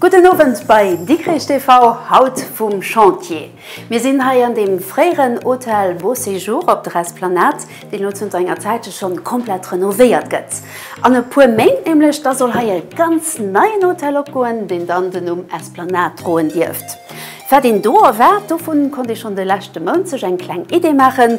Gudden Owend bei Dikrich TV, haut vum Chantier. Mir sinn hei an dem fréieren Hotel Beau Séjour op der Esplanade, deen elo zënter enger Zäitche schonn komplett renovéiert gëtt. An e puer Méint nämlech, da soll hei e ganz neien Hotel opgoen, deen dann den Numm Esplanade droen dierft. Wat een do erwaart, dovun konnt ee schonn de leschte Mount sech eng kleng Idee maachen.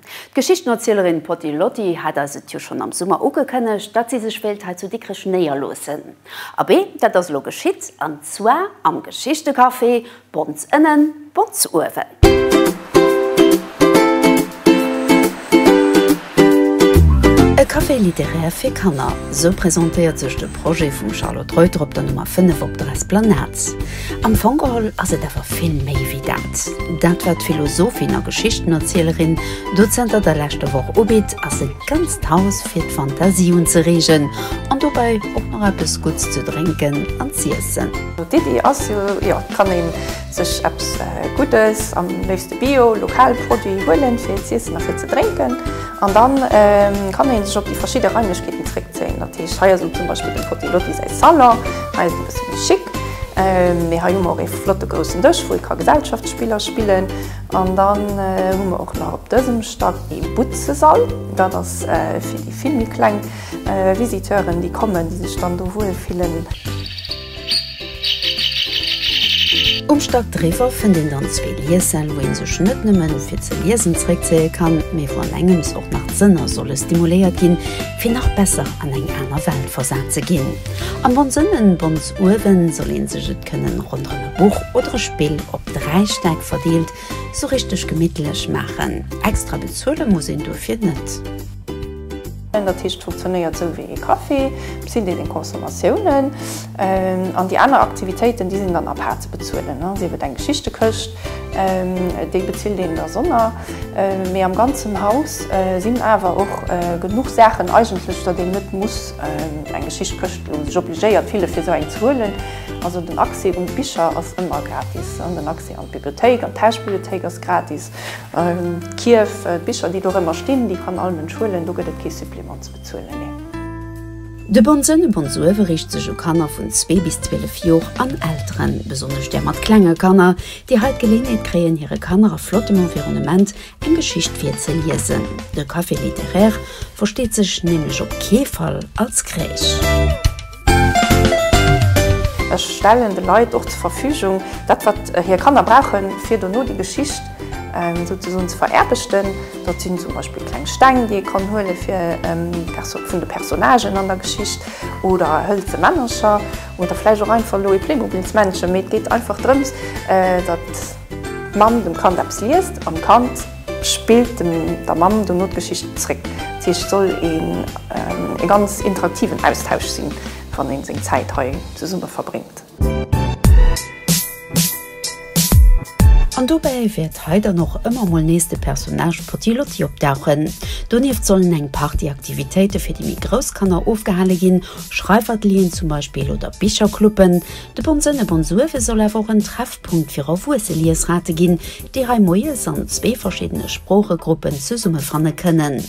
D'Geschichtenerzielerin Poti Lotti hat eis et jo schonn am Summer ugekënnegt, datt si sech wéilt hei zu Dikrech néierloossen. Abee, dat ass elo geschitt, an zwar am Geschichtecafé Bons Ënnen, Bons Uewen. E Café littéraire fir Kanner, sou presentéiert sech de Projet vum Charlotte Reuter op der Nummer 5 op der Esplanade. Am Fong geholl ass et awer vill méi wéi dat. Dat wat d'Philosophin a Geschichtenerzielerin do zënter der leschter Woch ubitt, ass e ganzt Haus fir d'Fantasie unzereegen an dobäi och nach eppes Gutts ze drénken an z'iessen. D'Iddi ass jo, jo, et kann ee sech eppes Guddes, am léifste Bio, lokal Produit, huelen fir z'iessen a fir ze drénken. An dann kann een sech op déi verschidde Raimlechkeeten zréckzéien. Dat heescht, hei ass zum Beispill dem Fotté Lotti säi Salon. Hei ass e bësse méi chic. Mee hei hu mer och ee flotte groussen Dësch, wou ee ka Gesellschaftsspiller spillen. An dann hu mer och nach op dësem Stack ee Butzesall. Dat ass fir déi vill méi kleng Visiteuren, déi kommen, déi sech dann do wuel fillen. Um Stack driwwer fënnt een dann zwee Liessel, wou ee sech net nëmmen fir ze liesen zeréckzéie kann, mee wou an engems och nach d'Sënner solle stimuléiert ginn, fir nach besser an eng aner Welt versat ze ginn. Am Bonsënnen, Bons uewen, soll een sech et kënnen ronderëm e Buch oder e Spill op dräi Stäck verdeelt sou richteg gemittlech maachen. Extra bezuele muss een dofir net. Dat heescht, et funktionéiert sou wéi ee Café, et sinn deenen Consommatiounen an déi aner Aktivitéiten, déi sinn dann à part ze bezuelen. Sief et eng Geschichtekëscht, déi bezilt een dersonner, mee am ganzen Haus sinn awer och genuch Saachen eigentlech, datt een net muss eng Geschichtekëscht elo sech obligéiert fille fir esou eng ze huelen. Also den Accès un d'Bicher ass ëmmer gratis, den Accès an d'Bibliothéik, an d'Hausbibliothéik ass gratis. D'Kierf, d'Bicher déi dorëmmer stinn, déi kann all Mënsch huelen, do gëtt et kee Supplément ze bezuelen, nee. De Bon Sënn, Bon Suëve, riicht sech u Kanner vun zwee bis 12 Jor an Elteren, besonnesch där mat klenge Kanner, déi hei d'Geleeënheet kréien hire Kanner a flottem Environnement eng Geschicht virzeliesen. De Café littéraire versteet sech nämlech op kee Fall als Crèche. Ech stellen de Leit och zur Verfügung dat, wat hir Kanner brauchen, fir dono déi Geschicht souzesoen ze vererbeschten. Dat sinn zum Beispill kleng Steng, déi ee kann huele vun de Personnagen an der Geschicht, oder hëlze Männercher, oder vläicht och einfach elo e Playmobilsmännchen. Mee et geet einfach drëms, datt d'Mamm dem Kand eppes liest an d'Kand, Spillt dem der Mamm dono d'Geschicht zréck. D'Sicht soll een ee ganz interaktiven Austausch sinn, wann een seng Zäit hei zesumme verbréngt. An dobäi wäert hei dann och ëmmer mol nees de Personnage Potti Lotti opdauchen. Donieft sollen eng Partie Aktivitéite fir déi méi grouss Kanner ofgehale ginn, Schreifatelieren zum Beispill oder Bichercluben. De Bonn Sënn e Bonn Suerwe soll awer och en Treffpunkt fir erwuesse Liesrate ginn, déi hei moies an zwee verschiddene Sproochegruppen zesummefanne kënnen.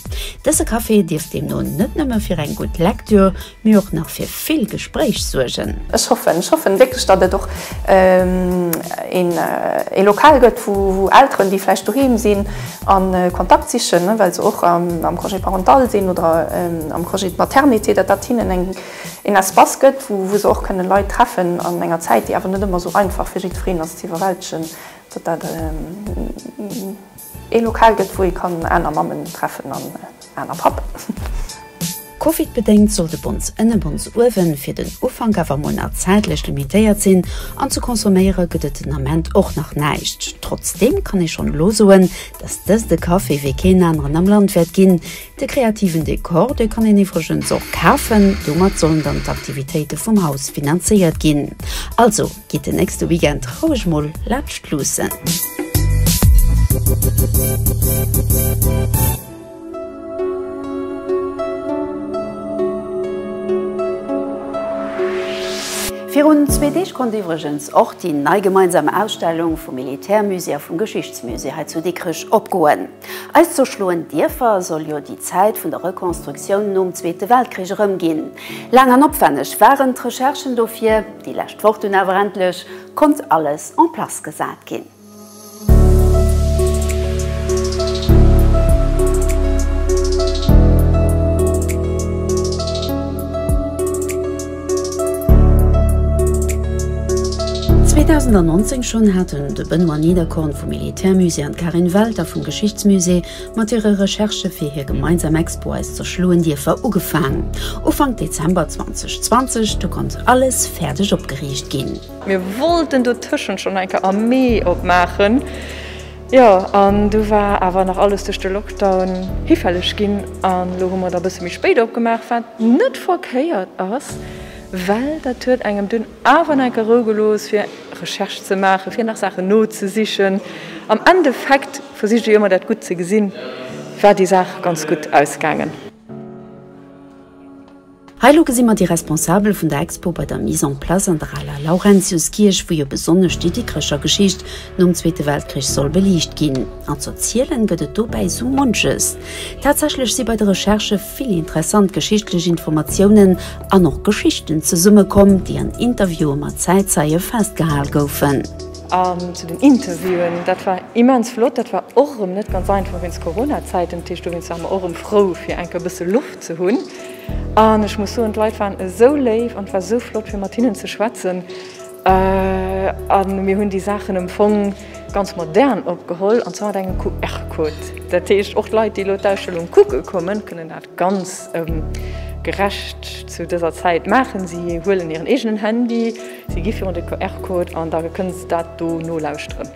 Dëse Café dierft deemno net nëmme fir eng gutt Lektür, mee och nach fir vill Gespréich suergen. Ech hoffen, ech hoffen wierklech, datt et och ee Lokal gëtt, wou Elteren, déi vläicht doheem sinn a Kontakt sichen, well se och am Congé parental sinn oder am Congé de maternité, datt dat hinnen een Espace gëtt, wou se och kënne Leit treffen an enger Zäit, déi awer net ëmmer esou einfach fir jiddwereen ass, ze iwwerwältegen. Datt dat ee Lokal gëtt, wou ee kann aner Mammen treffen an aner Pappen. Covidbedéngt soll de Bons ënne Bons uewe fir den Ufank awer mol nach zäitlech limitéiert sinn an ze consomméiere gëtt et den Ament och nach näischt. Trotzdeem kann ee schonn elo soen, datt dëst e Café wéi keen aneren am Land wäert ginn. De kreativen Dekor, dee kann een iwwregens och kafen. Domat sollen dann d'Aktivitéite vum Haus finanzéiert ginn. Also. Gitt den nächste Weekend roueg mol laanscht luussen. Virun zwee Deeg konnt iwwregens och déi nei gemeinsam Ausstellung vum Militärmusée a vum Geschichtsmusée hei zu Dikrech opgoen. Eis zwou schloen Dierfer soll jo déi Zäit vun der Rekonstruktioun nom Zweete Weltkrich erëmginn. Laang an opwänneg waren d'Recherchen dofir, déi lescht Woch dunn awer endlech konnt alles en place gesat ginn. 2019 schonn haten de Benoît Niederkorn vum Militärmusée an d'Karin Welter vum Geschichtsmusée mat hire Recherchë fir hir gemeinsam Expo Eis zerschloen Dierfer ugefaang. Ufank Dezember 2020 du konnt alles fäerdeg opgeriicht ginn. Mir wollten dotëschent schonn eng Kéier am Mee opmaachen, Jo, an du war awer nach alles duerch de Lockdown hifälleg ginn an elo hu mer der e bësse méi spéit opgemaach, wat net verkéiert ass, well dat huet engem dunn awer nach enke Rou gelooss fir Recherche ze maachen, fir nach Saachen nozesichen. Am Endeffekt versicht ee jo ëmmer dat Gutt ze gesinn, war déi Saach ganz gutt ausgaangen. Hei elo gesi mer déi Responsabel vun der Expo bei der Mise en place an der aler Laurentiuskierch, wou jo besonnesch déi Dikkrecher Geschicht nom Zweete Weltkrich soll beliicht ginn. An ze erzielen gëtt et dobäi sou munches. Tatsächlech si bei de Recherchë vill interessant geschichtlech Informatiounen an och Geschichten zesummekomm, déi an Interviewe mat Zäitzeie festgehal goufen. An zu den Interviewen, dat war immens flott. Dat war och erëm net ganz einfach wéinst Coronazäiten. Dat heescht, dowéinst ware mer och erëm frou, fir eng Kéier e bësse Loft ze hunn. An ech muss soen, d'Leit waren esou léif an et war esou flott, fir mat hinnen ze schwätzen. A mir hunn déi Saachen am Fong ganz modern opgeholl, an zwar mat engem QR-Code. Dat heescht, och d'Leit, déi elo d'Ausstellung kucke kommen, kënnen dat ganz gerecht zu dëser Zäit maachen. Si huelen hiren eegenen Handy. Si gi virun de QR-Code an da kënne se dat do nolauschteren.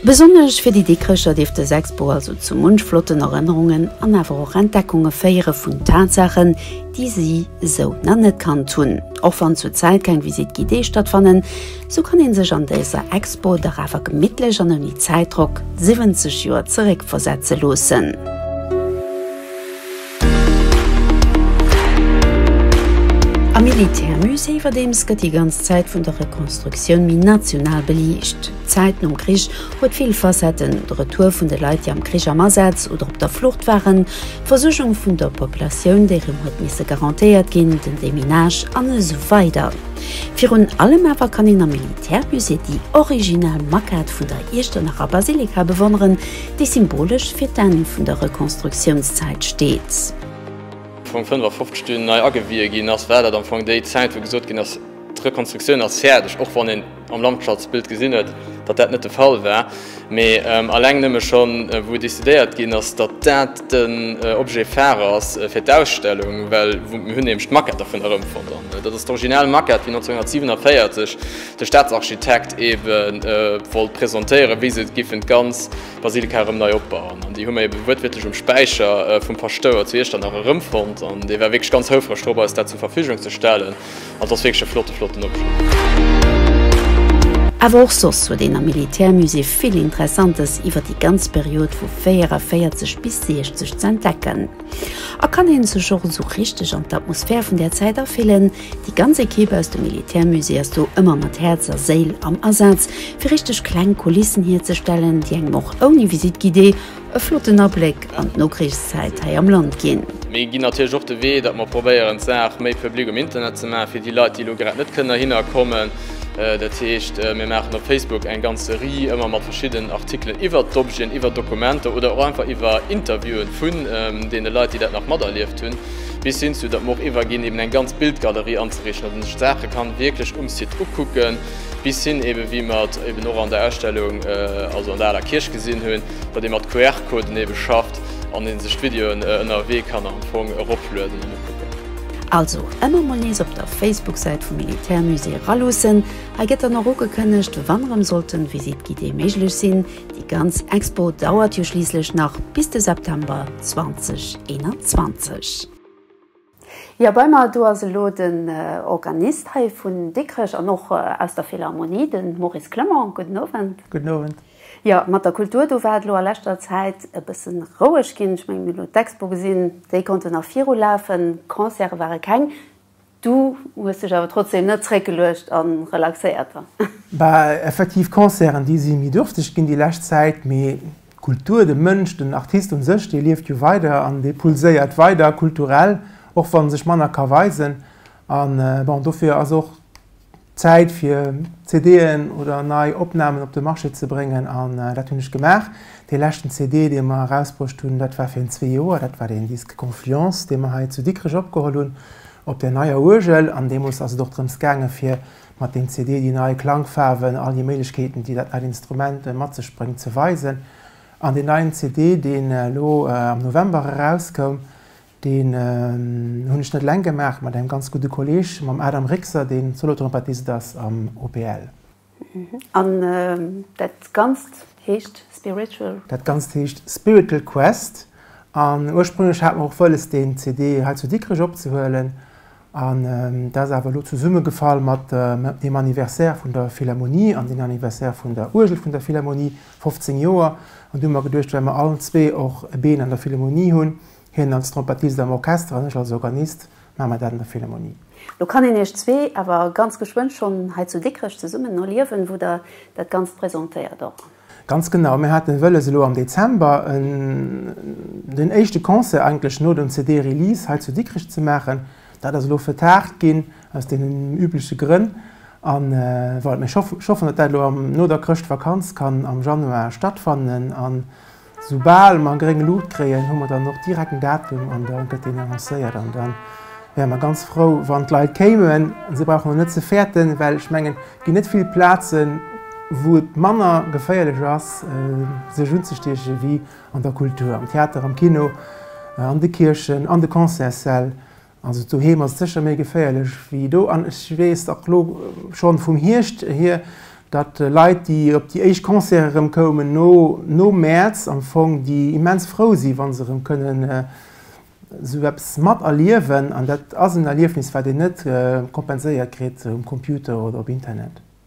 Besonnesch fir déi Dikrecher dierft dës Expo also zu munch flotten Erënnerungen an awer och Entdeckunge féiere vun Tatsaachen, déi si sou nach net kannt hunn. Och wann zur Zäit keng Visite guidée stattfannen, sou kann ee sech an dëser Expo dach awer gemittlech an ouni Zäitdrock 70 Joer zeréckversetze loossen. Am Militärmusée iwwerdeems gëtt déi ganz Zäit vun der Rekonstruktioun méi national beliicht. D'Zäit nom Krich huet vill Facetten, de Retour vun de Leit, déi am Krich am Asaz oder op der Flucht waren, d'Versuergung vun der Populatioun, déi rëm huet misse garantéiert ginn, den Deminage an esou weider. Virun allem awer kann een am Militärmusée déi original Maquette vun der Iechternacher Basilika bewonneren, déi symbolesch fir d'Enn vun der Rekonstruktiounszäit steet. Wou 55 dunn nei agewiehe ginn ass, war dat am Fong déi Zäit, wou gesot ginn ass, d'Rekonstruktioun ass fäerdeg, och wann een am Landschatsbild gesinn huet, datt dat net de Fall war, mee alleng nëmme schonn, wou decidéiert ginn ass, datt dat den Objet phare ass fir d'Ausstellung, well mir hunn nämlech d'Maquette dervun erëmfonnt, an dat ass d'original Maquette, wéi 1947, de Staatsarchitekt ebe wollt presentéieren, wéi se giffen d'ganz Basilika erëm nei opbauen. An déi hu mer ebe wuertwiertlech um Späicher vum Paschtouer zu Iechternach erëmfonnt. An dee war wierklech ganz houfreg drop, eis dat zur Verfügung ze stellen. An et ass wierklech e flotte, flotten Objet. Awer och soss huet een am Militärmusée vill Interessantes iwwer déi ganz Period vu 44 bis 60 ze entdecken. A kann een sech och esou richteg an d'Atmosphär vun där Zäit afillen. Déi ganz Ekipp aus dem Militärmusée ass do ëmmer mat Häerz a Séil am Asaz, fir richteg kleng Kulissen hierzestellen, déi engem och ouni Visite guidée e flotten Abléck an d'Nokrichszäit hei am Land ginn. Mir ginn natierlech och de Wee, datt mer probéieren, d'Saach méi public um Internet ze maachen, fir déi Leit, déi elo grad net kënnen dohinner kommen. Dat heescht, mir maachen op Facebook eng ganz Serie, ëmmer mat verschiddenen Artikelen iwwert d'Objeten, iwwert Dokumenter oder och einfach iwwer Interviewen vun deene Leit, déi dat nach materlieft hunn, bis hin zu, datt mer och iwwerginn, eben eng ganz Bildgalerie anzeriichten, datt een sech d'Saache kann wierklech um Site ukucken, bis hin eben, wéi mer et eben och an der Ausstellung, also an der Aler Kierch gesinn hunn, datt ee mat QR-Coden ebe schafft an ee sech d'Videoen ënnerwee kann am Fong eroplueden. Also emmer mol nees op der Facebook-Säit vum Militärmusée eraluussen. Hei gëtt dann och ugekënnegt wann erëm sollten Visite guidée méiglech sinn. Déi ganz Expo dauert jo schliisslech nach bis de September 2021. Jo, bei mer do ass elo den Organist hei vun Dikrech an och aus der Philharmonie, den Maurice Clement. Gudden Owend. Gudden Owend. Jo, mat der Kultur, do war et elo a leschter Zäit e bësse roueg ginn. Ech mengen, mir hunn elo d'Expo gesinn, déi konnten nach virulafen, Concerte ware keng. Du hues dech awer trotzdeem net zréckgeluecht a relaxéiert dann? Bah, effektiv, Concerten, déi si méi duerfteg ginn déi lescht Zäit, mee d'Kultur, de Mënsch, den Artist un sech, dee lieft jo weider an dee pulséiert weider kulturell, och wann e sech manner ka weisen. A bon, dofir ass och Zäit fir CD'en oder nei Opnamen op de Marché ze bréngen an dat hunn ech gemaach. Dee leschten CD, dee mer erausbruecht hunn, dat war virun zwee Joer. Dat war den Disque Confluence, dee mer hei zu Dikrech opgeholl hunn op der neier Uergel. An deemools ass et och drëms gaange fir mat deem CD déi nei Klangfaarwen, all déi Méiglechkeeten, déi dat neit Instrument mat sech bréngt, ze weisen. An deen neien CD, deen elo am November erauskoum, Deen hunn ech net eleng gemaach, mat engem ganz gudde Kolleg, mam Adam Rixer, deen Solotrompetist ass am OPL. An dat Ganzt heescht Spiritual? Dat Ganzt heescht Spiritual Quest. An ursprünglech hat mer och wëlles, deen CD hei zu Dikrech opzehuelen. An dat ass awer elo zesummegefall mat dem Anniversaire vun der Philharmonie an dem Anniversaire vun der Uergel vun der Philharmonie, 15 Joer. An du hu mer geduecht, well mer allen zwee och e Been an der Philharmonie hunn, Hien als Trompettist am Orchester an ech als Organist maache mer dat an der Philharmonie. Lo kann een iech zwee awer ganz geschwënn schonn hei zu Dikrech zesummen erliewen, wou der dat Ganzt presentéiert och. Ganz genau, mir hate wëlles elo am Dezember den éischte Concert eigentlech no dem CD-Release hei zu Dikrech ze maachen. Dat ass elo vertagt ginn aus deenen übleche Grënn an voilà. Mee ech hoffen, datt dat elo no der Chrëschtvakanz kann am Januar stattfannen. Soubal mer gréng Luucht kréien, hu mer dann och direkt en Datum an da gëtt deen annoncéiert. An da wäre mer ganz frou, wann d'Leit kéimen. Si brauchen och net ze fäerten, well ech mengen, et ginn net vill Plazen, wou et manner geféierlech ass, sech unzestiechen, ewéi an der Kultur, am Theater, am Kino, an de Kierchen, an de Concertssäll. Also doheem ass et sécher méi geféierlech wéi do. An ech weess och elo schonn vum Hierscht hier, datt Leit, déi op déi éischt Concerte erëm koumen no no Mäerz, am Fong déi immens frou si wa se erëm kënnen esou eppes mat erliewen. An dat ass en Erliefnis, wat een net kompenséiert kritt um Computer oder op Internet.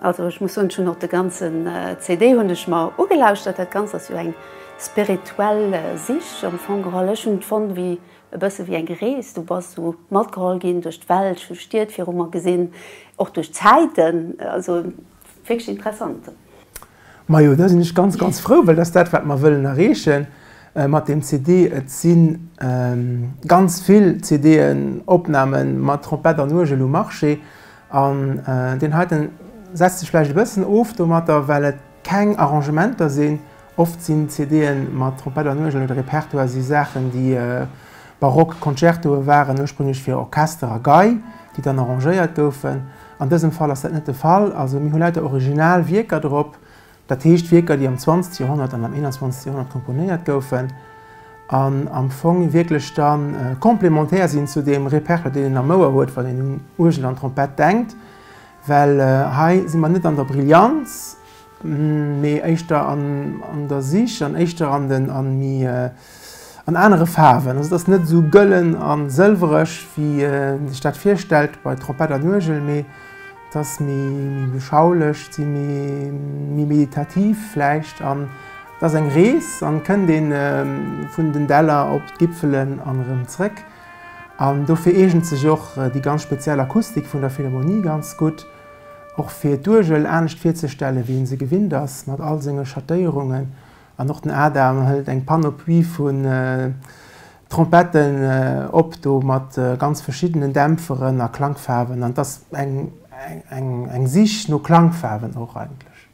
Also ech muss soen, ech hunn och de ganzen CD hunn ech mer ugelauschtert. Dat Ganzt ass jo eng spirituell Sich am Fong geholl. Ech hunn et fonnt wéi e bësse wéi eng Rees. Du bass esou matgeholl ginn duerch d'Welt, hu Stied viru mer gesinn, och duerch d'Zäiten. Also wierklech interessant. Majo, da sinn ech ganz, ganz frou, well dat ass dat, wat mer wëllen erreeche mat deem CD. Et si ganz vill CD'en, Opname mat Trompett an Uergel um Marché an deen heite setzt sech vläicht e bëssen of domatter, well et keng Arrangementer sinn. Oft sinn CD'e mat Trompett an Uergel oder Repertoire si Saachen, déi barock Concertoe waren, ursprünglech fir Orchester a Gei, déi dann arrangéiert goufen. An dësem Fall ass dat net de Fall. Also mir hu lauter original Wierker drop, dat heescht Wierker, déi am 20 Joerhonnert an am 21 Joerhonnert komponéiert goufen an am Fong wierklech da complémentaire sinn zu deem Repertoire, deen een am Ouer huet, wann een un Uergel an Trompett denkt. Well hei si mer net an der Brillanz. mee éischter an an der Sich an éischter an den an mi an anere Faarwen. Also et ass net esou gëllen a sëlwereg wéi een sech dat virstellt bei Trompett an Uergel, mee et ass méi méi beschaulich, et si méi méi meditativ vläicht an et ass eng Rees an et kënnt een vun den Däller op d'Gipfelen an erëm zréck an dofir eegent sech och déi ganz speziell Akustik vun der Philharmonie ganz gutt. Och fir d'Uergel anescht virzestellen, wéi ee se gewinnt ass, mat all senge Schattéierungen. An och den Adam hëlt eng Panoplie vun Trompetten op do, mat ganz verschiddenen Dämpferen a Klangfaarwen. An et ass eng Sich no Klangfaarwen och eigentlech.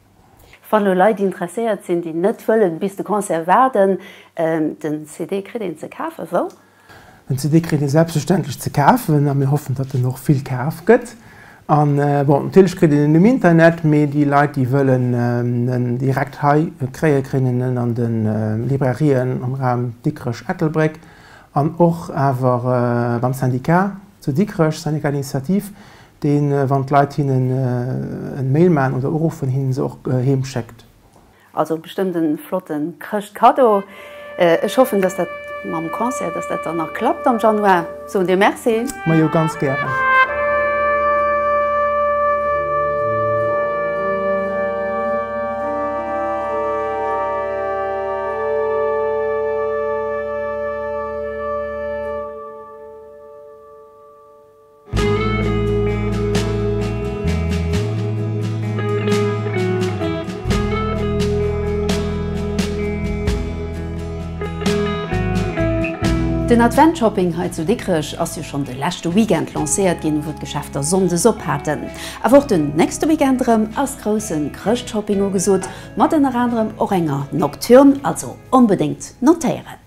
Wann elo Leit interesséiert sinn, déi net wëllen bis de Concert waarden, den CD kritt een ze kafen wou? Den CD kritt ee selbstverständlech ze kafen a mir hoffen, datt en och vill kaf gëtt. An bon, natierlech kritt een en um Internet, mee déi Leit, déi wëllen en direkt hei kréien, kréien en an de Librairien am Raum Dikrech-Ettelbréck an och awer beim Syndicat zu Dikrech, Syndicat d'Initiative, dee wann d'Leit hinnen en Mail maan oder uruffen hinnen se och heem schéckt. Also bestëmmt en flotten Chrëschtkaddo. Ech hoffen dass dat mam Concert dass dat dann nach klappt am Januar. Soen dir Merci. Majo ganz gären. Den Adventshopping hei zu Dikrech ass jo schonn de leschte Weekend lancéiert ginn, wou d'Geschäfter sonndes op haten. Awer och den nächste Weekend erëm ass grousse Chrëschtshopping ugesot, mat ënner anerem och enger Nocturne. Also onbedéngt notéieren!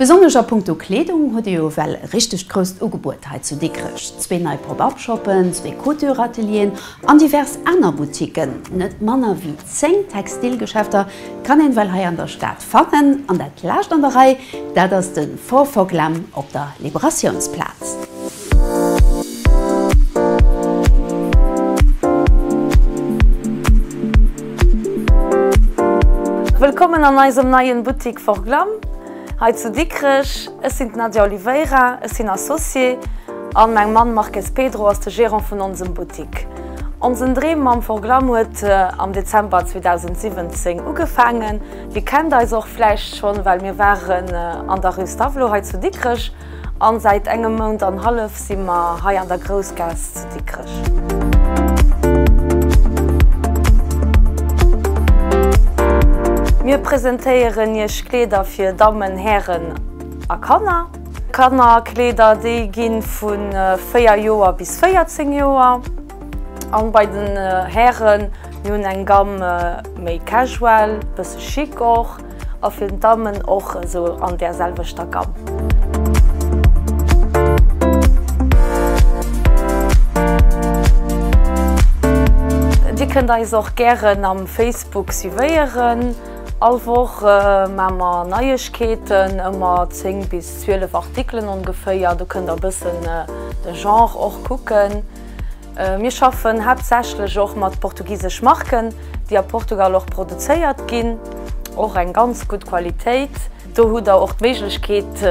Besonnesch a punkto Kleedung huet ee jo ewell e richtegt grousst Ugebuet hei zu Dikrech, zwee nei Pop-Up-Shoppen, zwee Couture-Atelieren an divers aner Boutiquen, net manner wéi Zéng Textilgeschäfter kann een well hei an der Stad fannen, an dat laascht an der Rei, dat ass de Four Foclam op der Liberatiounsplaz. Wëllkommen an eisem neien Buttik Four Glam hei zu Dikrech. Ech sinn d'Nadia Oliveira, ech sinn Associée an mäin Mann Marques Pedro ass de Gérant vun onsem Buttik. Onsen Dreem mam Forglam huet am Dezember 2017 ugefaangen. Dir kennt eis och vläicht schonn, well mir waren an der Rue Stavelot hei zu Dikrech an säit engem Mount an hallef si mer hei an der Groussgaass zu Dikrech. Mir presentéieren Iech Kleeder fir Dammen, Hären a Kanner. Kannerkleeder déi ginn vu 4 Joer bis 14 Joer an bei den Hären mir hunn eng Gamme méi casual, bësse chic och a fir d'Dammen och esou an där selwechter Gamme. Dir kënnt eis och gären am Facebook suivéieren. All Woch maa mer Neiegkeeten, ëmmer 10 bis 12 Artikelen ongeféier. Do kënnt der e bëssen de Genre och kucken. Mir schaffen haaptsächlech och mat portugisesch Marken, déi a Portugal och produzéiert ginn. Och eng ganz gutt Qualitéit. Do hutt der och d'Méiglechkeet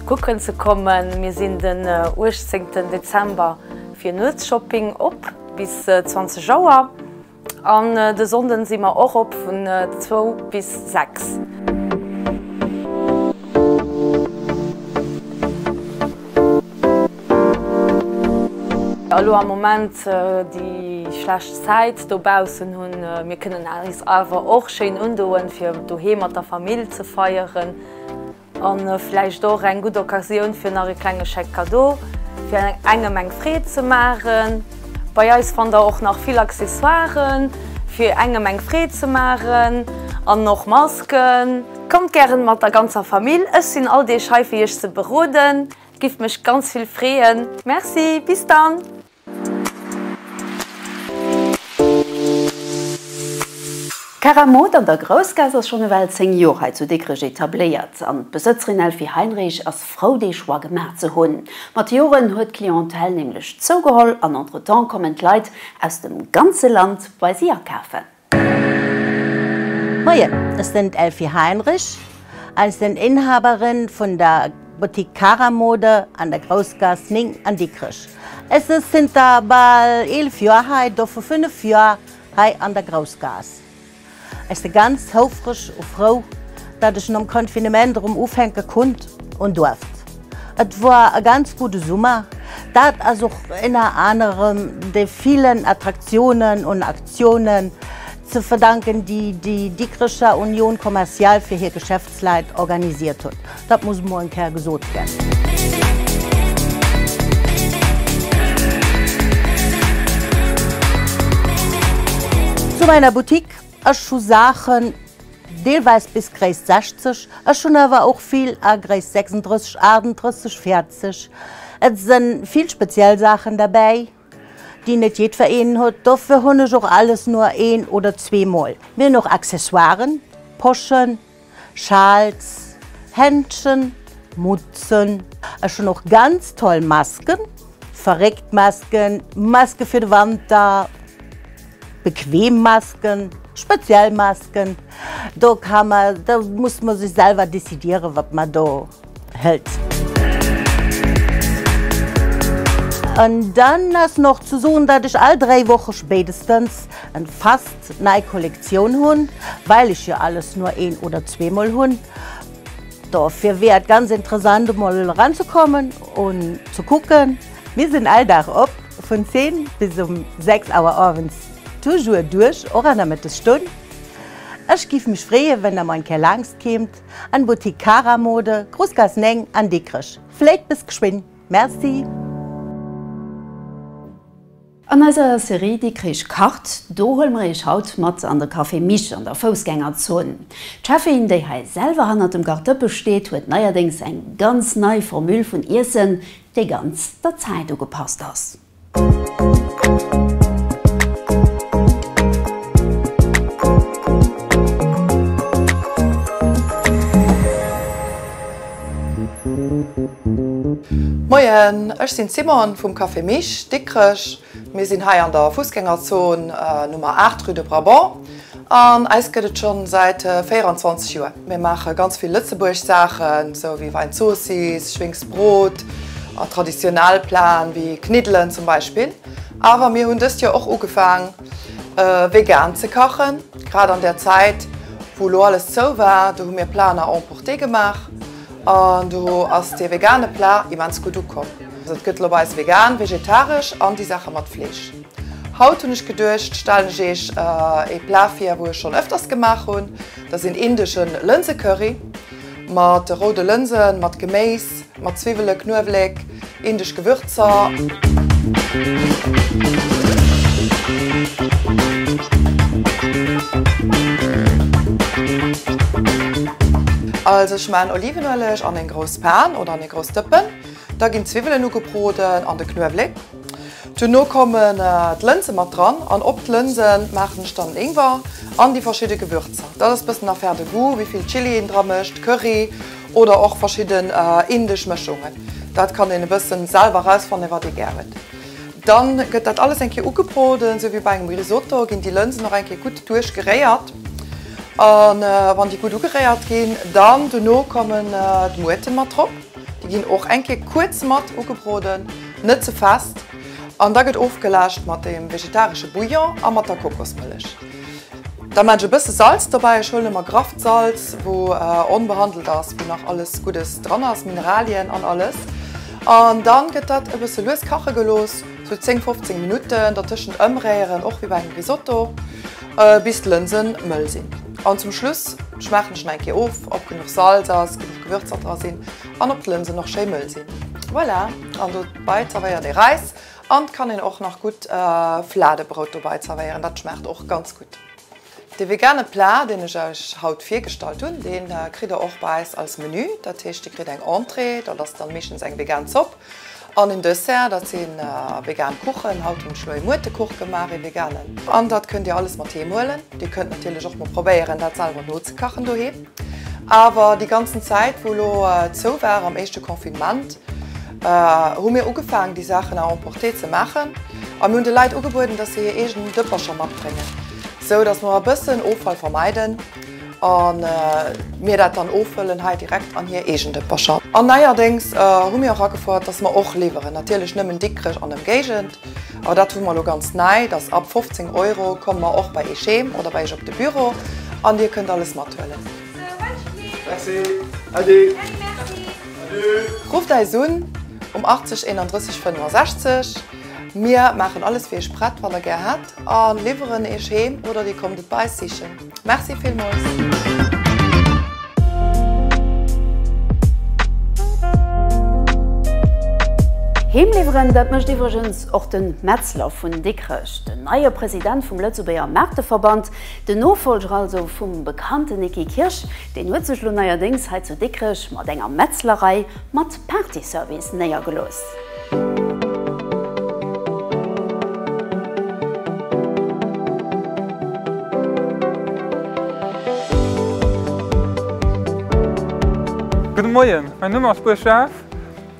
kucken ze kommen. Mir sinn den 18 Dezember fir Nuetsshopping op bis 20 Auer. An de Sonnden si mer och op vun 2 bis 6. Elo am Moment déi schlecht Zäit dobaussen hunn, mir kënnen eis awer och schéin undoen fir doheem mat der Famill ze feieren. An vläicht och eng gutt Occasioun fir nach e klenge Chèque cadeau fir engem eng Freed ze maachen. Bei eis fannt der och nach vill Accessoiren fir engem eng Freed ze maachen an och Masken. Kommt gären mat der ganzer Famill, ech sinn all Deeg hei fir iech ze beroden. Giff mech ganz vill freeën. Merci, bis dann! D'Keramot an der Groussgaass ass schonn ewell 10 Joer hei zu Dikrech etabléiert an d'Besëtzerin Elfie Heinrich ass frou dee Choix gemaach ze hunn. Mat de Joren huet d'Clientèle nämlech zougeholl an entretemps kommen d'Leit aus dem ganze Land bei si akafen. Moien, ech sen d'Elfie Heinrich a ech sen Inhaberin vun der Boutique Cara Mode an der Groussgass 9 an Dikrech. Ech se zënter bal 11 Joer hei, dovu 5 Joer hei an der Groussgass. Ech se ganz houfreg u frou, datt ech nom Confinement erëm ufänke kunnt un duerft. Et war e ganz gudde Summer. Dat ass och énner anerem de villen Attraktiounen un Aktiounen ze verdanken, déi déi Dikrecher Union Commerciale fir hir Geschäftsleit organisiert huet. Dat muss mol eng Kéier gesot ginn. Zu meiner Boutique. Ech hu Saachen, deelweis bis Gréisst 60, ech hunn awer och vill a Gréisst 36, 38, 40. Et së vill speziell Saachen derbäi, déi net jiddwereen huet. Dofir hunn ech och alles nur een oder zweemol. Mir hunn och Accessoiren, Poschen. Schals, Händschen, Mutzen. Ech hunn och ganz toll Masken, verréckt Masken, Masken fir de Wanter, bequem Masken, speziell Masken. Do ka mer, do muss mer sech selwer décidieren wat mer do. hëlt. An dann ass nach ze soen, dat ech all 3 Woche spéidestens en fast nei Kollektioun hunn, well ech jo alles nur een oder zweemol hunn. Dofir wier et ganz interessant emol eranzekommen un ze kucken. Mir sinn all Dag op vun 10 bis um 6 Auer owends, toujours duerch och an der Mëttesstonn. Ech giff mech freeën, wenn der mol eng Kéier laangst keemt. En Boutique Cara Mode, Groussgaass 9 an Dikrech. Vléit bis geschwinn. Merci. An eiser Serie Dikrich kacht, do huele mer iech haut mat an de Café Mich an der Foussgängerzon. D'Cheffin, déi hei selwer hannert dem Gartdëppe steet, huet neierdéngs eng ganz nei Formule vun Iessen, déi ganz der Zäit ugepasst ass. Moien, ech sinn d'Simone vum Café Mich, Dikrech. Mir sinn hei an der Fussgängerzon Nummer 8, rue de Brabant. An eis gëtt et schonn säit 24 Joer. Mir maache ganz vill Lëtzebuerg Saachen, sou wéi Wäinzoossiss, Schwéngsbrot a traditionell Plaen wéi Kniddelen zum Beispill. Awer mir hunn dëst Joer och ugefaang vegan ze kachen, grad an där Zäit wou elo alles zou war. Do hu mir Plaen à emporter gemaach an do ass dee vegane Plat immens gutt ukomm. Et gëtt elo bei eis vegan, vegetaresch an déi Saache mat Fleesch. Haut hunn ech geduecht stellen ech eech ee Plat vir wou ech schon öfters gemaach hunn. Dass een indeschen Lënsecurry mat roude Lënsen, mat Geméiss, mat Zwiwwelen, Knuewléck, indesch Gewürzer. Also ech man Olivenualeg an een grouss Pan oder an ee grouss Dëppen, da ginn Zwiwwelen ugebroden an de Knuewléck. Duerno kommen d'Lënse mat dran an op d'Lënse maachen ech dann den Ingwer an déi verschidde Gewürzer. Dat ass e bëssen Affaire de goût, wéi vill Chili een dra mécht, Curry oder och verschidden indesch Mëschungen. Dat kann een e bëssen selwer erausfannen, wat ee gär huet. Dann gëtt dat alles eng Kéier ugebroden, sou wéi bei engem Risotto ginn déi Lënsen och eng Kéier gutt duerch geréiert. An wann déi gutt ugeréiert ginn, dann duerno kommen d'Muurten mat drop. Déi ginn och eng Kéier kuerz mat ugebroden, net ze fest, an da gëtt ofgelaascht mat dem vegetaresche Bouillon a mat der Kokosmëllech. Da man ech e bësse Salz dobäi, ech huelen ëmmer grafft Salz, wou onbehandelt ass, wou nach alles Guddes dran ass, Mineralien an alles. An dann gëtt dat e bësse lues kache gelooss, sou 10, 15 Minutten, dertëschent ëmréieren, och wéi bei engem Risotto. Bis d'Lënsen mëll sinn. An zum Schluss schmaachen ech nach eng Kéier of op genuch Salz ass, genuch Gewürzer dra sinn an op d'Lënsen och schéi mëll sinn. Voilà, an dobei zervéiert ee Reis an et kann een och nach gutt Flaadebrout dobei zervéieren, dat schmaacht och ganz gutt. Dee vegane Plat deen ech euch haut virgestallt hunn, deen kritt der och bei eis als Menü, dat heescht dir kritt eng Entrée, dat ass dann meeschtens eng vegan Zopp, An en Dessert, dat sinn vegan Kuchen. Haut hunn ech elo ee Muertekuch gemaach, ee veganen. An dat kënnt Dir alles mat heem huelen. Dir kënnt natierlech och mol probéieren, dat selwer nozekachen doheem. Awer déi ganzen Zäit, wou elo zou war am éischte Confinement, hu mir ugefaangen, déi Saachen à emporter ze maachen. A mir hunn de Leit ugebueden, dass se hir eegenen Dëppercher matbréngen, esou dass mer e bëssen Offall vermeiden. A mir dat dann ofhëllen hei direkt an hir eegen Dëppercher. An neierdéngs hu mir och agefouert, dass mer och liwweren. Natierlech nëmmen Dikrech an Ëmgéigend. Awer dat hu mer elo ganz nei, dass ab 15 Euro komme mer och bei Iech heem oder bei Iech op de Büro an Dir kënnt alles mathuelen. Rufft eis un um 80 31 65. Mir maachen alles fir Iech prett, wann Der gär hätt, a liwweren Iech heem oder Dir kommt et bei eis sichen. Merci villmols. Heem liwweren, dat mécht iwwregens och de Metzler vun Dikrech, den neie President vum Lëtzebuerger Maarteverband, den Nofolger also vum bekannten Niki Kirsch. Deen huet sech elo neierdéngs hei zu Dikrech mat enger Metzlerei mat Partyservice néiergelooss. Gudde Moien, mäin Numm ass Buurg Jeff.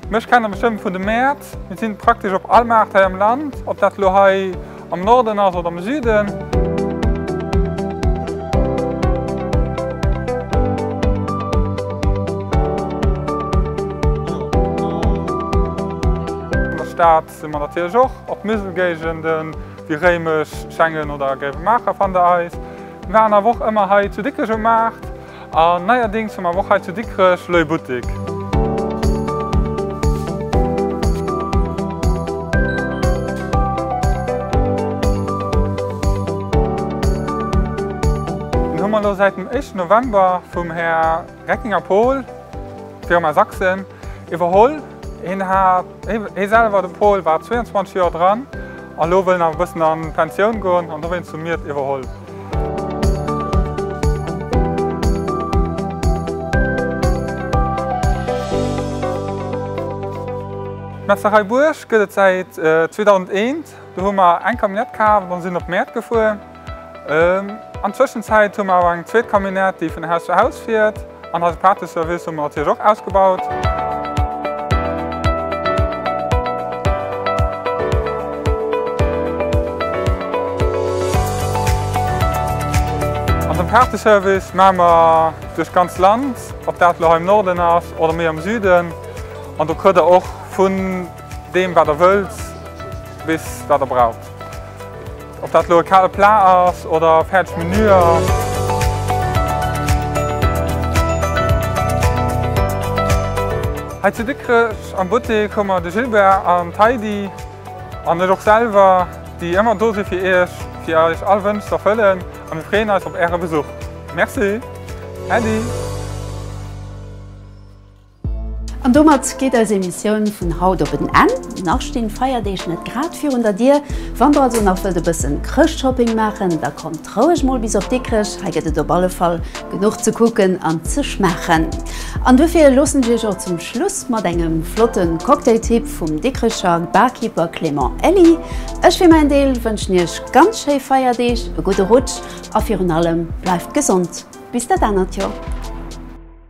Mech kennt der bestëmmt vun de Mäert. Mir sinn praktesch op all Maart hei am Land, ob dat elo hei, Am Norden ass oder am Süden? Stad si mer natierlech och. Och Muselgéigenden, wéi Réimech, Schengen oder Gréiwemaacher fannt der eis. Mir waren awer och ëmmer hei zu Dikrech um Maart. An neierdings hu mer awer och hei zu Dikrech Leuil Buttik. Dann hu mer elo säit dem éischten November vum Här Reckinger Paul, Firma Sachsen, iwwerholl. Hien hat. Hie selwer, de Paul, war 22 Joer dran a lo wëll en awer e bëssen an d'Pensioun goen an dowéinst hu mir et iwwerholl. D'Metzlerei Buerg gëtt et säit 2001. Do hu mer eng Camionnette kaaft an sinn op d'Mäert gefuer. An Tëschenzäit hu mer awer eng zweet Camionnette, déi vun Haus zu Haus fiert. An eise Pateservice hu mer natierlech och ausgebaut. An dem Pateservice maache mer duerch d'ganz Land, ob dat elo hei am Norden ass oder méi am Süden. An do kritt Der och vun deem, wat Der wëllt, bis wat Der braucht. Ob dat elo e kale Plat ass oder fäerdeg Menüer. Hei zu Dikrech am Buttek hu mer de Gilbert an d'Heidi an ech och selwer, déi ëmmer do si fir iech, fir eis all Wënsch ze erfëllen a mir freeën eis op äre Besuch. Merci! Äddi! An domat geet eis Emissioun vun haut op en Enn. Nach stinn d'Feierdeeg net grad virun der Dier. Wann der also nach wëllt e bëssen Chrëschtshopping maachen, da kommt roueg mol bis op Dikrech. Hei gëtt et op alle Fall genuch ze kucken an ze schmaachen. An duerfir loossen ech iech och zum Schluss mat engem flotten Cocktailtipp vum Dikrecher Barkeeper Clément Elly. Ech fir mäin Deel wënschen iech ganz schéi Feierdeeg, e gudde Rutsch a virun allem bleift gesond bis dat anert Joer.